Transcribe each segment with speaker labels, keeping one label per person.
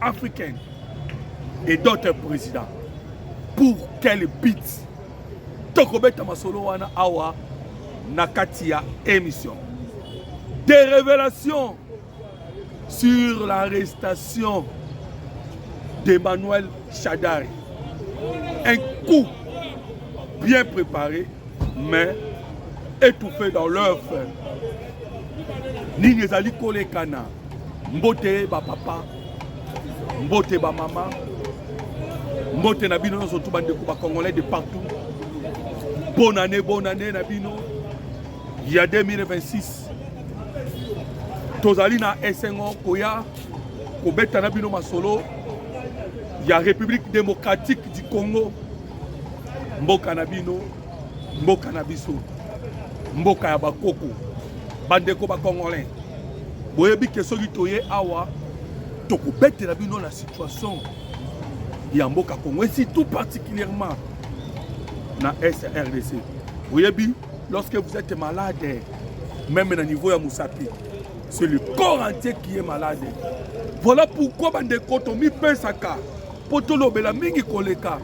Speaker 1: Africain et d'autres présidents. Pour quel but tokobeta masolo wana awa na kati ya émission des révélations sur l'arrestation d'Emmanuel Chadari un coup bien préparé mais étouffé dans l'œuf nini ezali kolekana Mbote ba papa, mbote ba mama, mbote na bino nyonso tu bandeko ba congolais de partout. Bonne année, bonne année na bino ya 2026. Tozali na esengo koya kobeta na bino masolo ya République démocratique du Congo mboka na bino mboka na biso mboka ya bakoko bandeko bacongolais boyebi ke soki toye awa tokobetela bino na situation ya mboka congo esi tout particulièrement na srdc boyebi lorsque vous êtes malade même na niveau ya mosapi c'est le corps entier qui est malade voilà pourquoi bandeko tomipesaka mpo tolobela mingi koleka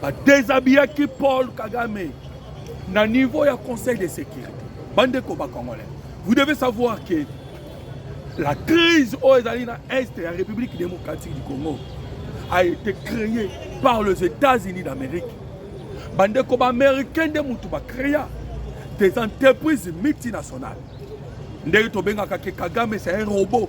Speaker 1: Ba déshabillaki Paul Kagame na niveau ya conseil de sécurité. Bande ko ba congolais. Vous devez savoir que la crise aux États-Unis, Est et la République démocratique du Congo a été créée par les États-Unis d'Amérique. Bande ko ba américain de mutu ba créa des entreprises multinationales. Ndenge tobengaka ke Kagame c'est un robot.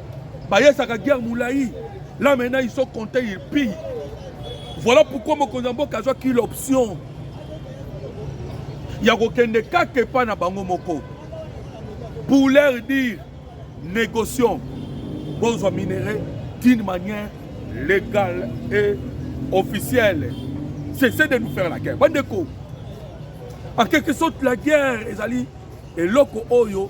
Speaker 1: bayesaka guerre molai là maintenant ils sont comptés ils pillent voilà pourquoi mokonzi ya mboka azwaki l'option ya kokende kaka epai na bango moko pour leur dire négocions bozwa minerai d'une manière légale et officielle cessez de nous faire la guerre bandeko en quelque sorte la guerre ezali eloko oyo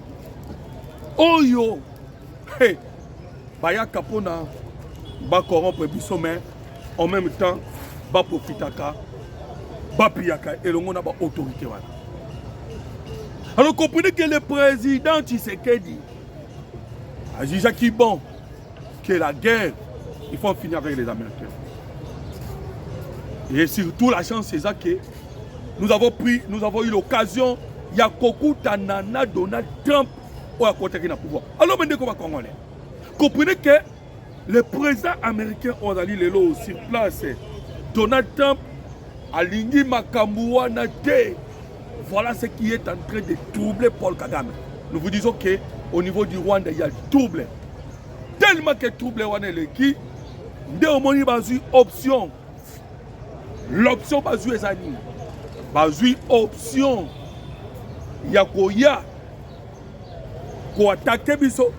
Speaker 1: oyo hey, bayaka mpona bacorompre biso mais en même temps baprofitaka bapiyaka elongo na baautorité wana alors comprenez que le président tshisekedi ajujaki bon que la guerre il faut en finir avec les américains et surtout la chance eza que nous avons pris nous avons eu l'occasion ya kokutana na donald trump oyo akotaki na pouvoir alors me ndeko bacongolais comprenez que le président américain oyo azali lelo sur place donald trump alingi makambo wana te voilà ce qui est en train de troubler paul kagame nous vous disons que au niveau du rwanda il y a trouble tellement que trouble wana eleki nde omoni bazwi option l'option bazwi eza nini bazwi option ya koya koatake biso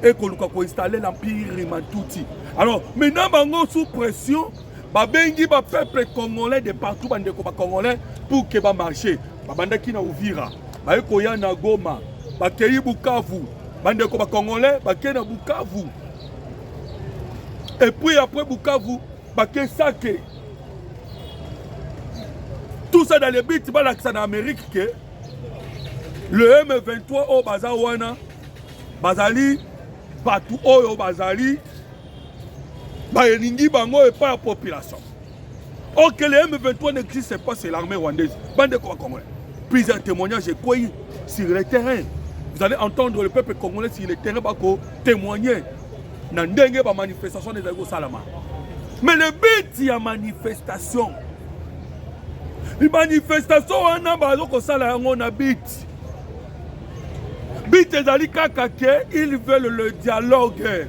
Speaker 1: ekoluka koinstalle l'empire matuti alors maintenant bango sous pression babengi bapeuple congolais de partout bandeko bacongolais pour ke bamarche babandaki na uvira baye koya na goma bakei bukavu bandeko bacongolais bakei na bukavu Et puis après Bukavu, Bakesake. Tout ça dans les bits, balakisa na Amérique que le M23 au baza wana bazali bato oyo bazali baelingi bango epai ya population Or que les M23 n'existent pas, c'est l'armée rwandaise. Bande de Congolais. Plusieurs témoignages écueillés sur le terrain. Vous allez entendre le peuple congolais sur le terrain bako témoigner. Na ndenge ba manifestation des ago salama. Mais le but ya manifestation. Les manifestations wana bazo ko sala yango na but. But ezali kaka que ils veulent le dialogue.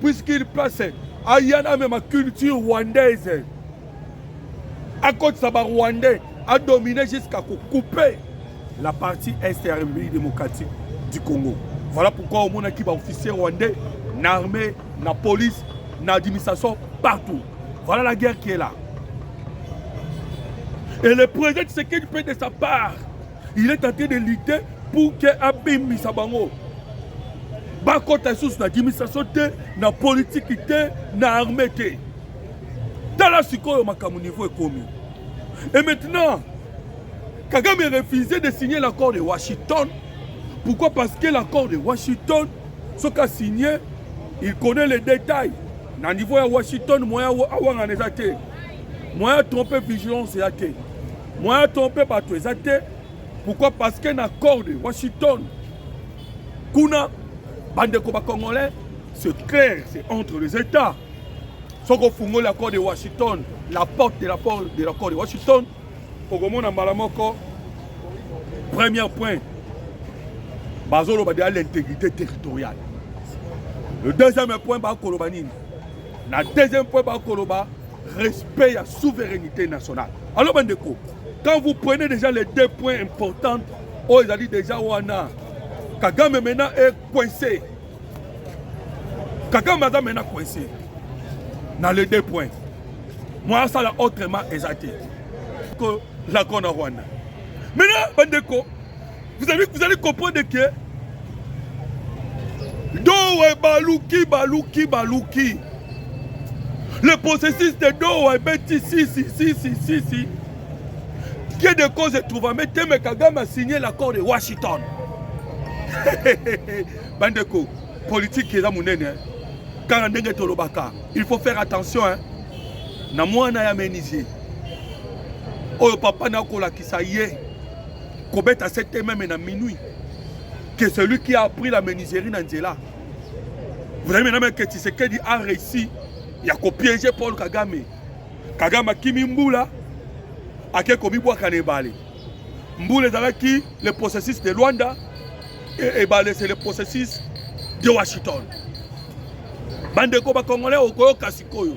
Speaker 1: puisqu'il passe aya na mema culture rwandaise akotisa barwandais adomine jusqu'à kocoupe la partie est ya république démocratique du congo voilà pourquoi omonaki baofficier rwandais na armée na police na administration partout voilà la guerre qui est là et le président tshisekedi peut de sa part il est tenté de lutter pour que abimisa bango bakota lisusu na administration te na politiki te na armée te tala sikoyo makambo niveau ekomi et maintenant kagame refuse de signer l'accord de washington pourquoi parce que l'accord de washington soki asigne il connaît les détails na niveau ya washington moyen awangana eza te moyen trompe vigilance ya te Moyen trompe bato eza te. Pourquoi? Parce que na corde Washington kuna bandeko ba congolais c'est clair, c'est entre les États. soki ofungoli l'accord de washington la porte de l'accord de, l'accord de washington okomona mbala moko premier point bazoloba deya l'intégrité territoriale le deuxième point bakoloba nini na deuxième point bakoloba respect ya souveraineté nationale alors bandeko quand vous prenez déjà les deux points importants oyo oh, ezali déjà wana kagame maintenant est coincé kagame aza maintenant coincé na les deux points mwa asala autrement eza te ko lakona rwanda maintenant bandeko Vous allez, vous allez comprendre que Dowe Baluki, Baluki, Baluki. Le processus de Dowe Beti, si, si, si, si, si, si. Qui est de cause de trouver, mais Teme Kagame a signé l'accord de Washington. Bandeko, politique est là, mon nene. Quand on est Tolobaka, il faut faire attention. Hein. Na mwana ya menizier. Oyo papa nakolakisa ye. kobeta sete meme na minuit que celui qui a pris la menuiserie na nzela vous avez maintenant que Tshisekedi a réussi ya kopiéger Paul Kagame Kagame akimi mbula ake komibwaka na ebale mbula ezalaki le processus de Luanda et ebale c'est le processus de Washington bandeko bakongolais okoyoka sikoyo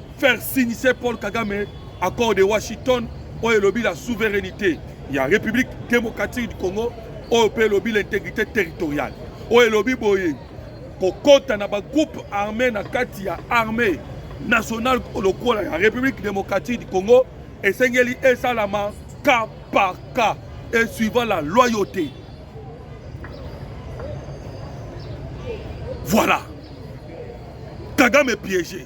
Speaker 1: faire signer Paul Kagame accord de Washington oyo elobi la souveraineté ya République démocratique du Congo oyo mpe elobi l'intégrité territoriale oyo elobi boye kokota na bagroupe armé na kati ya armée nationale lokola ya République démocratique du Congo esengeli esalama cas par cas et suivant la loyauté voilà Kagame piégé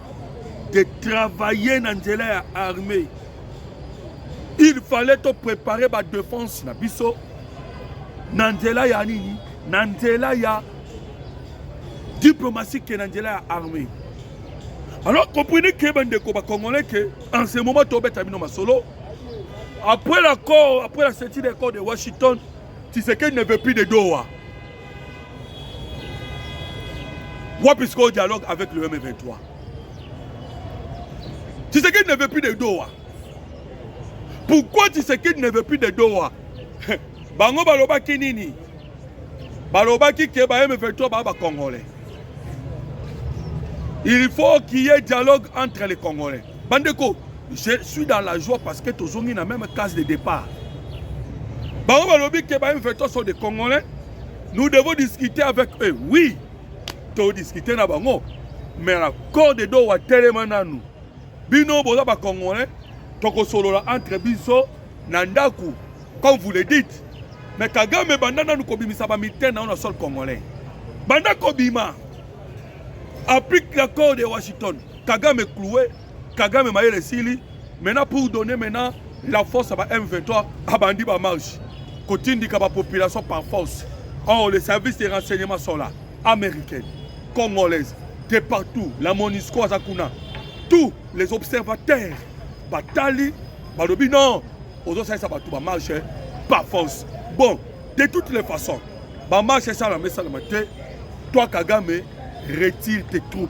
Speaker 1: de travailler na nzela ya armée il fallait to préparer ba défense na biso na nzela ya nini na nzela ya diplomatie ke na nzela ya armée alors comprenez ke bandeko bacongolais ke en ce moment tobeta bino masolo après l'accord après la sortie de l'accord de washington tshisekedi ne veut plus de doha Wapi sikoyo dialogue avec le M23 Tshisekedi ne veut plus de Doha. Pourquoi Tshisekedi ne veut plus de Doha Bango balobaki nini Balobaki ke ba M23 ba ba Congolais. Il faut qu'il y ait dialogue entre les Congolais. Bandeko, je suis dans la joie parce que tozongi na même case de départ bango balobi ke ba M23 sont des congolais nous devons discuter avec eux oui todiscute na bango mais na corps de dowa telema nanu bino boza bacongolais tokosolola entre biso na ndako comme vous le dites mais kagame banda nanu kobimisa bamitene na yo na sol congolais banda kobima applique l'accord de washington kagame cloué Kagame mayele sili maintenant pour donner maintenant la force à ba M23 abandi ba marche kotindika ba population par force or les services de renseignement sont là américaines congolaises de partout la monisco aza kuna tous les observateurs batali balobi non ozosalisa bato bamarche eh, par force bon de toutes les façons bamarche esalama esalama te toi kagame retire tes troupes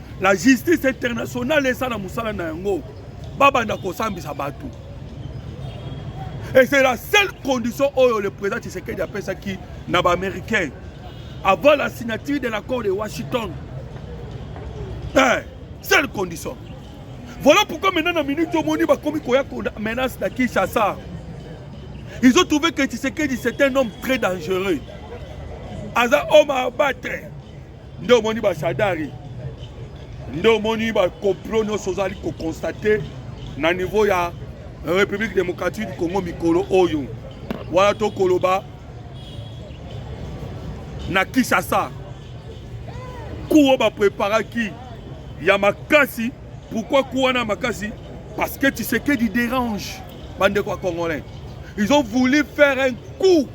Speaker 1: la justice internationale esala mosala na yango babanda kosambisa bato et c'est la seule condition oyo le président tshisekedi apesaki na baaméricain avant la signature de l'accord de washington eh, seule condition voilà pourquoi maintenant na minute omoni bakomi koya menace na kinshasa ils ont trouvé que tshisekedi c'est un homme très dangereux aza homme à abattre nde omoni bashadari nde omoni bacoplo nyonso ozali kokonstate na niveau ya république démocratique du congo mikolo oyo wana tokoloba na kinshasa kuo bapreparaki ya makasi pourquoi ku wana makasi parce que tshisekedi dérange bandeko ya congolais ils ont voulu faire un coup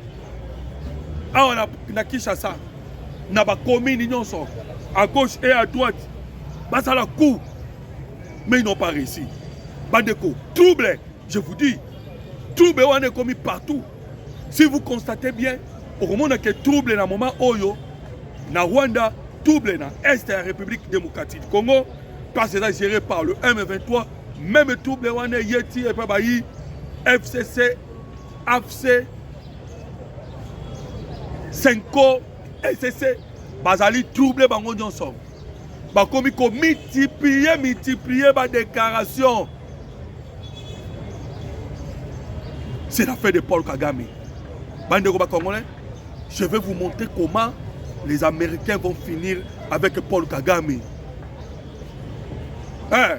Speaker 1: awa na, na kinshasa na ba commune nyonso à gauche et à droite basala coup mais ils n'ont pas réussi bandeko trouble je vous dis trouble wana ekomi partout si vous constatez bien okomona ke trouble na moment oyo na rwanda trouble na est ya république démocratique congo place eza géré par le m23 même trouble wana eyeti epai bayi fcc afc senko ecc bazali trouble bango nyonso bakomi komultiplie multiplie badéclaration c'est la fin de paul kagame bandeko bacongolais je vais vous montrer comment les américains vont finir avec paul kagame eh,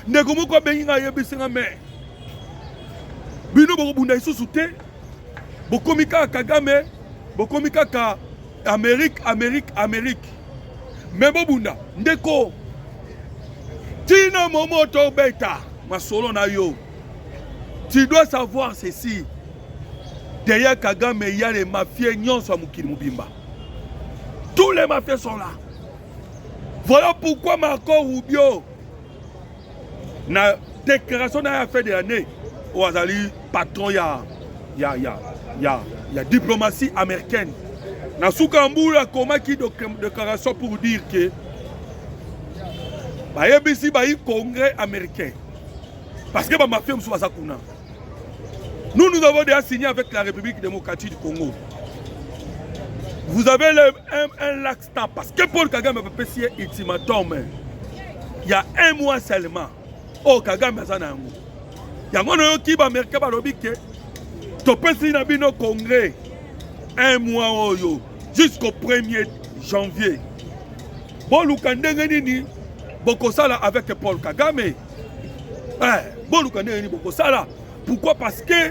Speaker 1: ndeko moko abengi ngai ayebisi nga mais bino bokobunda lisusu te bokomi kaka kagame bokomi kaka amerike amerike amerike me bobunda ndeko tina momo tobeta masolo na yo tu dois savoir ceci derrière kagame il y a les mafieux nyonso ya mokili mobimba tous les mafieux sont là voilà pourquoi marco rubio na déclaration na ya fin de l'année oyo azali patron ya ya ya ya ya diplomatie américaine na suka ya mbula akomaki déclaration pour dire que bayebisi bayi congrès américain parce que bamafia mosusu baza kuna nous nous avons déjà signé avec la république démocratique du congo vous avez le, un, un lac Stop, parce que Paul Kagame apesi ye ultimatum ya un mois seulement oyo oh, Kagame aza na yango yango nayoki baamericain balobi ke topesi na bino congrès un mois oyo jusqu'au 1er janvier boluka ndenge nini bokosala avec Paul Kagame eh, boluka ndenge nini bokosala pourquoi parce que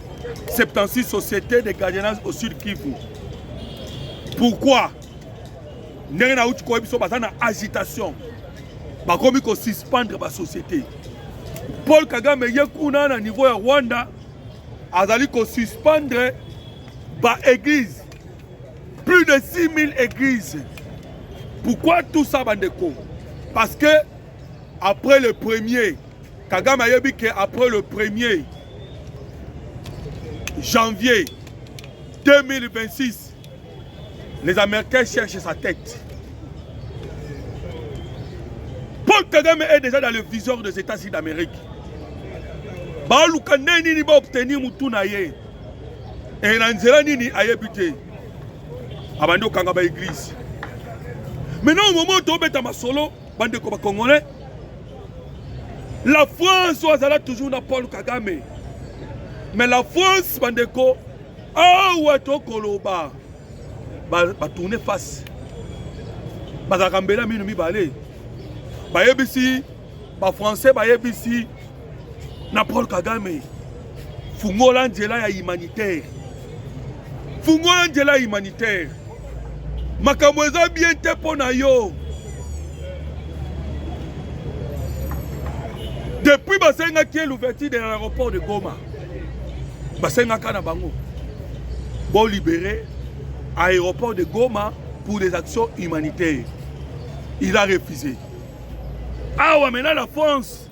Speaker 1: 76 société de gardiennage au sud kivu pourquoi ndenge nauti koyebi biso baza na agitation bakomi kosuspendre basociété paul kagame ye kuna na niveau ya rwanda azali kosuspendre baeglise plus de 6000 églises pourquoi tout ça bandeko parce que après le premier Kagame ayebi que après le premier janvier 2026, les Américains cherchent sa tête. Paul Kagame est déjà dans le viseur des États-Unis d'Amérique. baluka nde nini baobtenir motu na ye e na nzela nini ayebi te abandi kokanga baeglize maintenant momo tobeta masolo bandeko bacongolais la france oyo azala toujours na paul kagame mais la france bandeko awa tokoloba batourne ba face bazalaka mbela mino mibale bayebisi bafrançais bayebisi na Paul Kagame fungola nzela ya humanitaire fungola nzela ya humanitaire makambo eza bien te mpo na yo depuis basengaki ye l'ouverture de l'aéroport de goma basengaka na bango bolibere aéroport de goma pour des actions humanitaires il a refusé awa mena la france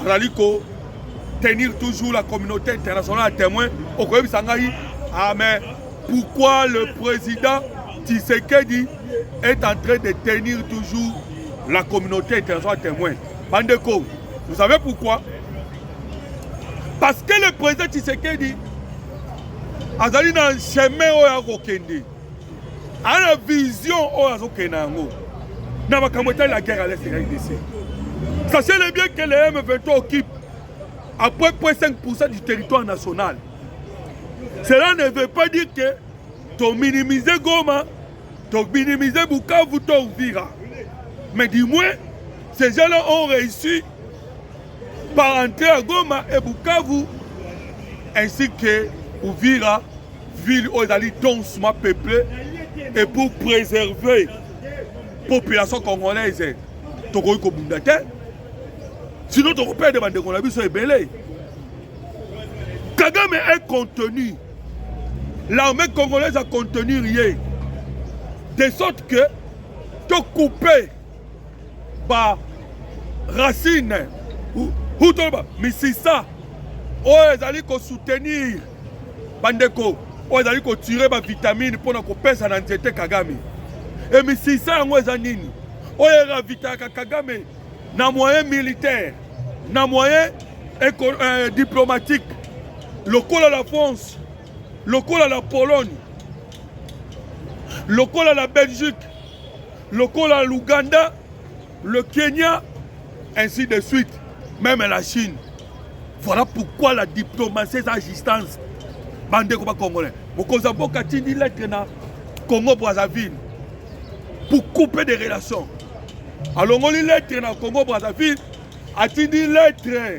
Speaker 1: azali ko tenir toujours la communauté internationale à témoin okoyebisa ngai ah mais pourquoi le président Tshisekedi est en train de tenir toujours la communauté internationale témoin. Bandeko, vous savez pourquoi Parce que le président Tshisekedi azali dans le chemin oyo akokende. ana vision oyo azokende na yango na makambo etali la guerre à l'est ya rdc sachez le bien que le m23 occupe à peu près 5 du territoire national cela ne veut pas dire que tominimize goma tominimize bukavu to uvira mais du moins ces gens là ont réussi par entrer à goma et bukavu ainsi que uvira ville oyo ezali densement peuple et pour préserver population congolaise tokoki kobunda te sinon tokoperde bandeko na biso ebele kagame est contenu l'armée congolaise a contenu rien de sorte que tokoupe ba racine ou toloba misisa oyo ezali kosoutenir bandeko oyo ezali kotire bavitamine mpo na kopesa na nzete kagame emisisa yango eza nini oyo eravitaka kagame na moyen militaire na moyen euh, diplomatique lokola la france lokola la pologne lokola la belgique lokola l'ouganda Le Kenya, ainsi de suite, même la Chine. Voilà pourquoi la diplomatie est à distance. Bande comme Congolais. Mokoza Boka Tindi lettre na Congo Brazzaville pour couper des relations. alongoli lettre na congo brazzaville atindi lettre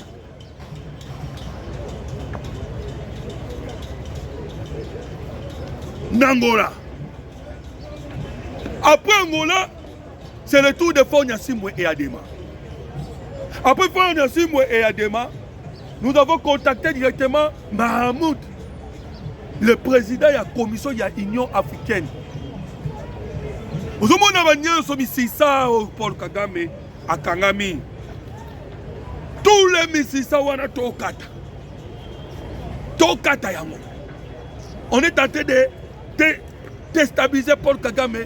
Speaker 1: na ngola après ngola C'est le tour de Fort Nyasimbwe et Adema. Après Fort Nyasimbwe et Adema, nous avons contacté directement Mahamoud, le président de la commission de l'Union africaine. ozomona banionso misisa oyo paul kagame akangami tule misisa wana tokata tokata yango on est en train de destabiliser paul kagame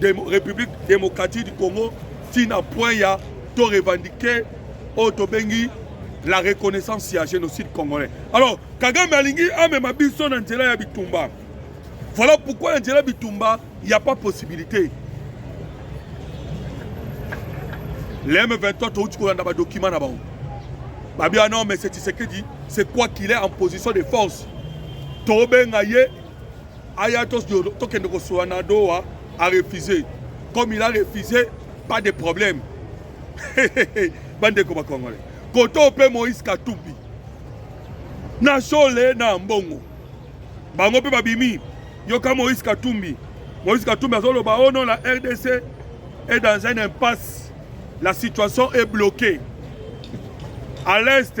Speaker 1: Demo, République démocratique du Congo tina point ya to revendiquer oyo tobengi la reconnaissance ya génocide congolais alors kagame alingi amema biso na nzela ya bitumba voilà pourquoi na nzela ya bitumba ya pas possibilité le m23 touti kolanda badokima na bango babi ah non mais c'est tshisekedi c'est quoi qu'il est en position de force tobenga ye aya tokende kosola na doa arefuse comme il a refuse pas de problème bandeko bakongole koto mpe moïse katumbi na shole na mbongo bango mpe babimi yoka moïse katumbi moïse katumbi azoloba o oh non la rdc est dans un impasse la situation est bloquée à l'est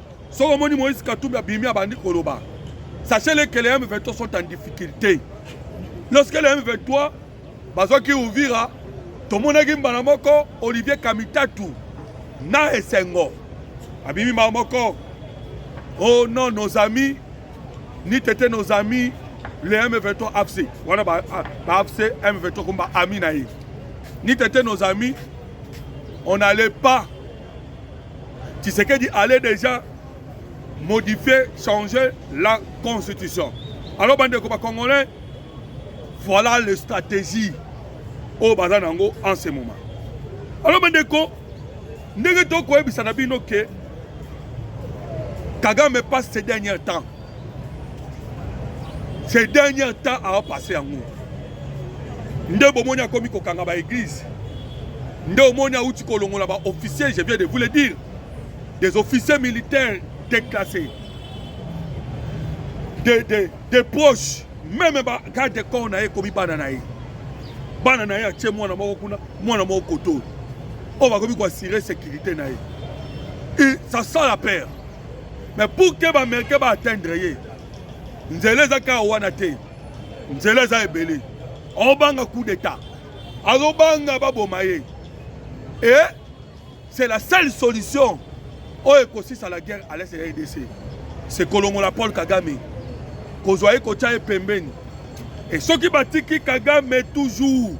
Speaker 1: Soki omoni Moïse Katumbi abimi abandi koloba, sachez-le que les M23 sont en difficulté. Lorsque les M23 bazwaki Uvira, tomonaki mbala moko Olivier Kamitatu na esengo abimi mbala moko oh non nos amis ni tete nos amis le M23 AFC wana ba, ah, ba AFC M23 comme ba amis na ye ni tete nos amis on n'allait pas Tshisekedi allait déjà modifier, changer la constitution. Alors, bande de Congolais, voilà les stratégies au Bazanango en ce moment. Alors, bande de ndenge tokoyebisa na bino ke kagame passe ces derniers temps ces derniers temps awa passe yango nde bomoni akomi kokanga ba église nde omoni awuti kolongola ba officier je viens de vous le dire des officiers militaires déclassés des de, de proches meme ba garde de corps na ye ekomi bana na ye bana na ye atie mwana moko kuna mwana moko koto oyo bakomi koassire sécurité na ye et ça sent la peur mais pour que ba américain ba atteindre ye nzela eza kaka wana te nzela eza ebele aobanga coup d'état azobanga baboma ye et c'est la seule solution oyo ekosisa la guerre à l'est ya edc c'est kolongola paul kagame kozwa ye kotya ye pembeni e soki batiki kagame toujours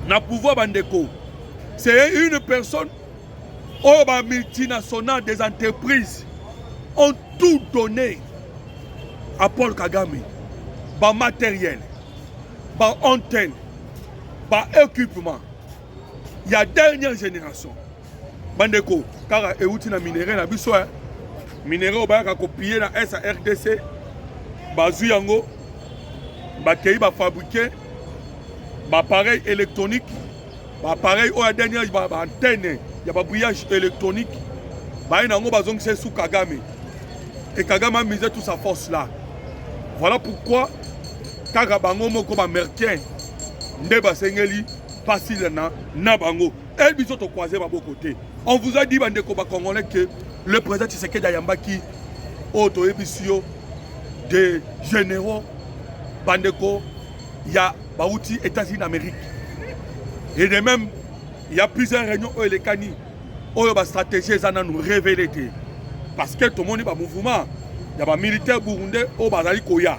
Speaker 1: na pouvoir bandeko c'est une personne oyo ba multinationales des entreprises ont tout donné à Paul Kagame ba matériel ba antenne ba équipement ya dernière génération bandeko kaka euti na minerai na biso eh. minerai oyo bayaka kopille na est ya rdc bazwi yango bakei bafabrike bapareil électronique ba appareil oyo ya dernier age ba antenne ya ba brillage électronique baye na yango bazongisa esu kagame et kagame amise tout sa force là voilà pourquoi kaka bango moko baamericain nde basengeli mpasi na, na bango e biso tokwaze maboko te on vous a dit bandeko bacongolais que le président tshisekedi ayambaki oyo toyebisi yo de généraux bandeko ya bauti Etats-Unis d'Amérique et de même il y a plusieurs réunions oyo elekani oyo ba stratégie eza nanu révélé te parce que tomoni ba mouvement ya ba militaire burundais oyo bazali koya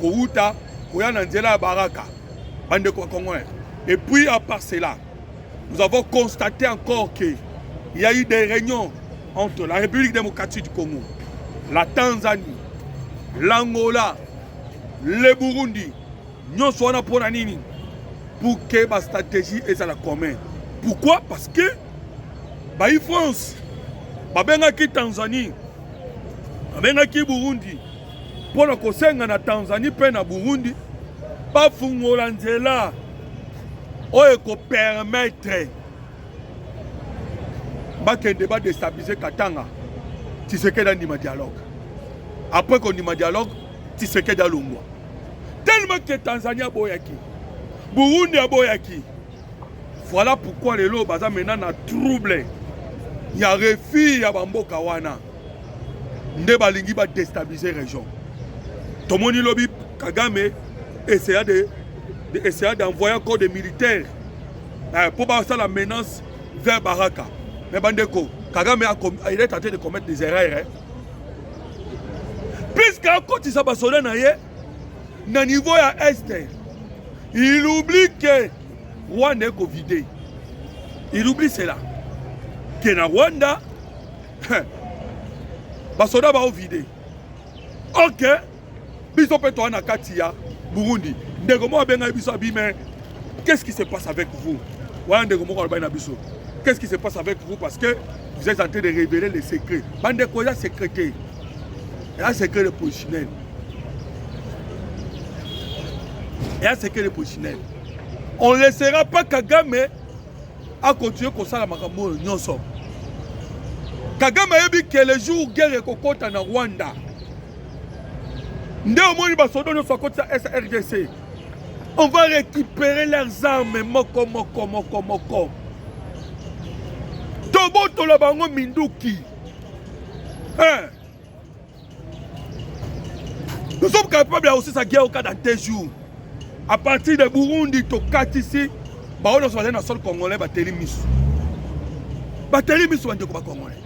Speaker 1: kowuta koya na nzela ya baraka bandeko bakongolais et puis à part cela nous avons constaté encore que il y a eu des réunions entre la République démocratique du Congo la Tanzanie l'Angola le burundi nyonso wana mpo na nini pour que bastratégie ezala commun pourquoi parce que bayi france babengaki tanzanie babengaki burundi mpo na kosenga na tanzanie mpe na burundi bafungola nzela oyo ekopermetre bakende ba destabiliser Katanga Tshisekedi andima dialogue après kondima dialogue Tshisekedi alongwa tellement que Tanzanie aboyaki Burundi aboyaki voilà pourquoi lelo baza maintenant na trouble ya refus ya bamboka wana nde balingi ba destabiliser région tomoni lobi Kagame essaya de, de essaya d'envoyer encore des militaires eh, mpo basala menace vers baraka me bandeko kagame il est tenté de commettre des erreurs eh? puisque akotisa basoda na ye na niveau ya este il oublie que rwanda ekovide il oublie cela ke na rwanda basoda baovide ok biso mpe toa na kati ya burundi ndeko moko abengaki biso abime qu'est-ce qui se passe avec vous wana ndeko moko alobaki na biso qu'est-ce qui se passe avec vous parce que vous êtes en train de révéler les secrets bandeko eza secret te eza secret de positionel eza secret de positionel on laissera pas kagame akontinue kosala makambo oyo nyonso kagame ayebi ke le jour guerre ekokɔta na rwanda nde omoni basodo nyonso akotisa srdc on va récupérer leurs armes moko moko moko moko tobotola bango minduki hein? nous sommes capables ya kosisa guerre oka dans deux jours à partir de burundi tokatisi baoyo nyonso bazali na sol congolais bateli miso bateli miso bandeko bacongolais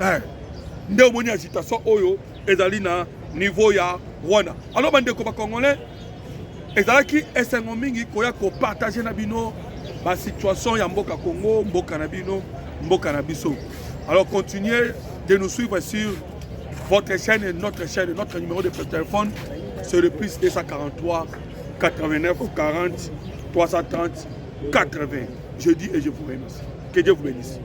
Speaker 1: eh, nde omoni agitation oyo ezali na niveau ya rwanda alors bandeko bacongolais ezalaki esengo mingi koya kopartage na bino basituation ya mboka congo mboka na bino mboka na biso alors continuez de nous suivre sur votre chaîne et notre chaîne notre numéro de téléphone c'est le plus 243 89 40 330 80 je dis et je vous remercie que Dieu vous bénisse